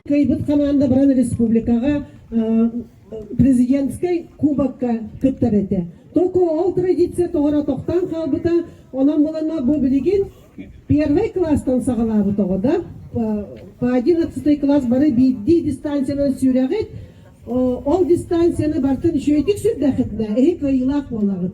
Кыйбыт команда баран республикаҕа президентскэй кубокка кыттар этэ. Только ол традиция тоҕора тохтаан хаалбыта. Онон булана бу билигин первый класстан саҕалаабыт оҕо да. По одиннадцатый класс бары биирдии дистанциянан сүрэҕит. Ол дистанцияны бартан үчүгэйдик сүрдэхитинэ эһи кыайыылаах буолаҕыт.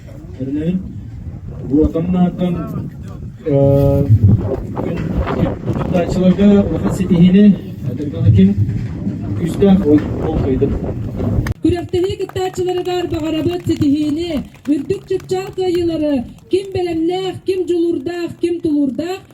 Аны уотан наартан тутааччыларга улахан ситиһиини, ким күүстээх болҕойдун. Күрэхтэһии кыттааччыларыгар баҕарабыт ситиһиини, үрдүк чыпчаал кыайыылары, ким бэлэмнээх, ким дьулуурдаах, ким тулуурдаах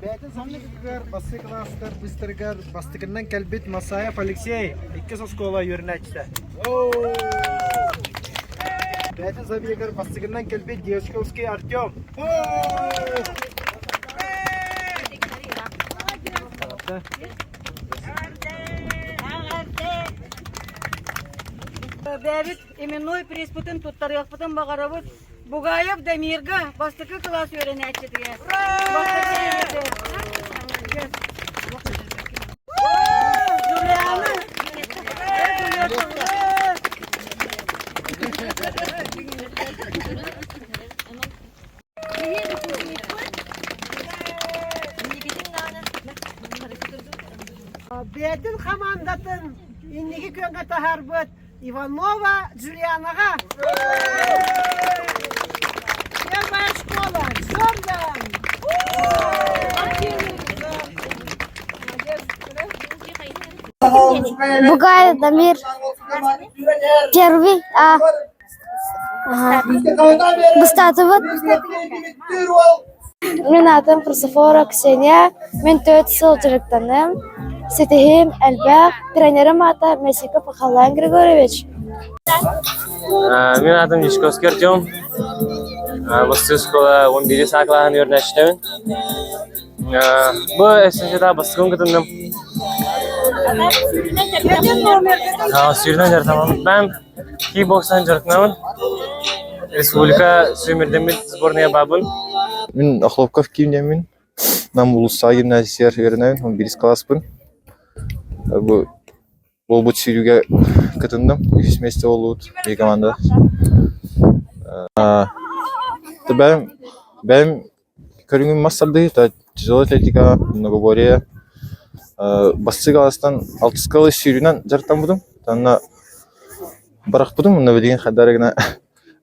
Бэйэтин саҥатыгар бастакы класстар быстарыгар бастакынан кэлбит Масаев Алексей иккис оскуола үөрэнээччитэ. Бэйэтин забегар бастакынан кэлбит Девочковский Артем. Бэбит именной приспутун туттарыахпытын баҕарабыт Бугаев Дамирга бастакы кылаас үөрэнээччитигэр Бэдин хамаандатын инники күөҥҥэ таһаарбыт Иванова Джулианаҕа Первая школа Зордан Бугай Дамир Первый А ага. Быстатыбыт Мин аатым Хрисофора Ксения, мин төрүт сыл дьарыктаным. Ситиһиим элбэх, тренерим аата Месиков Михаил Григорьевич. Мин аатым Дьячковский Артем. Бу оскуола он биир саа клаһын үөрнэчтэбин. Бу эсенчета баскын кытынным. Сүйрүнэн дьарыктамам. Mən киин бокстан дьарыктанабын республика сүмэрдэммит сборная баабын мин охлопков кииниэмин нам улуустааҕы гимназиятыгар үөрэнэбин он бирис кылааспын бу буолбут сүүрүүгэ кытынным үһүс миэстэ буолбут биир команда бэйэм бэйэм Көрүҥүм мас тардыһыыта, тяжелая атлетика, многоборье, бастыҥ аҕыстан алтыска ыла сүүрүүнэн дьарыктаммытым. Уонна бырахпытым уонна билигин хайдах эрэ гына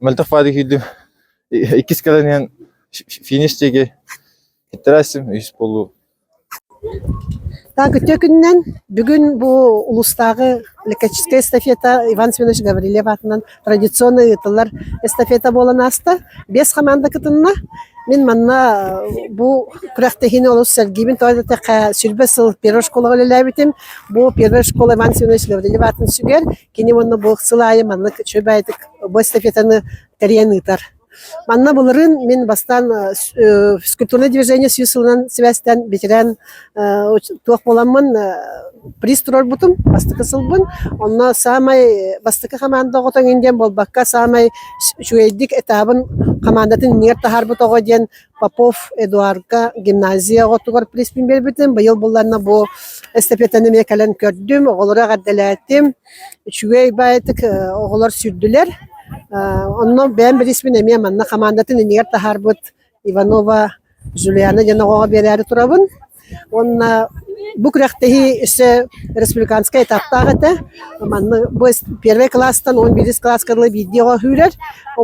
мөлтөх фаада киирдим. Иккис кэлэн иһэн финиш диэки иттэрээссим үһүс буолуу. Так, үтүө күнүнэн. Бүгүн бу улуустааҕы лекарческай эстафета Иван Семенович Гаврильев аатынан традиционно ыытыллар эстафета буолан ааста. Биэс хамаанда кытынна. Мин манна бу күрэхтэһиини олус сэргиибин. Тоҕо диэтэххэ, сүлбэ сыл первой школаҕа үлэлээбитим. Бу первой школа Иван Семенович Гаврильев аатын сүгэр. Кини уонна бу сыл аайы маннык үчүгэй бу эстафетаны тэрийэн ыытар. Манна былырыын мин бастаан физкультурное движение сүүс сылынан сибээстээн битирээн туох буоламмын приз туруорбутум бастакы сылбын. Онно саамай бастакы хамаанда оҕо тоҥин диэн буолбакка, саамай үчүгэйдик этабын хамаандатын иннигэр таһаарбыт оҕо диэн Попов Эдуарга гимназия оҕотугар призпин биэрбитим. Быйыл булланна бу эстафетаны эмиэ кэлэн көрдүм, оҕолору эҕэрдэлээтим. үчүгэй баайытык оҕолор сүрдүлэр онно бэйэм бирисмин эмиэ манна хамаандатын инигэр таһаарбыт иванова Жулиана диэн оҕоҕо биэрээри турабын уонна бу күрэхтэһии өссө республиканскай этаптаах этэ манна бу первый класстан он бирис класска дылы биирдии оҕо сүүрэр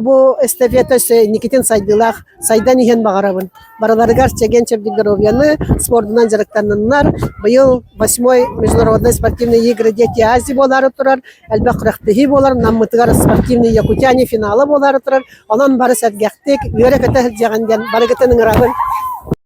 бу эстафета өссө инникитин сайдыылаах сайдан иһэн баҕарабын барыларыгар чэгиэн чэбдик доруобуйаны спордунан дьарыктанныннар быйыл восьмой международнай спортивные игры дети ази буолаары турар элбэх күрэхтэһии буолар наммытыгар спортивные якутяне финала буолаары турар онон бары сэргэхтик үөрэ көтө сылдьаҕын диэн барыгытын ыҥырабын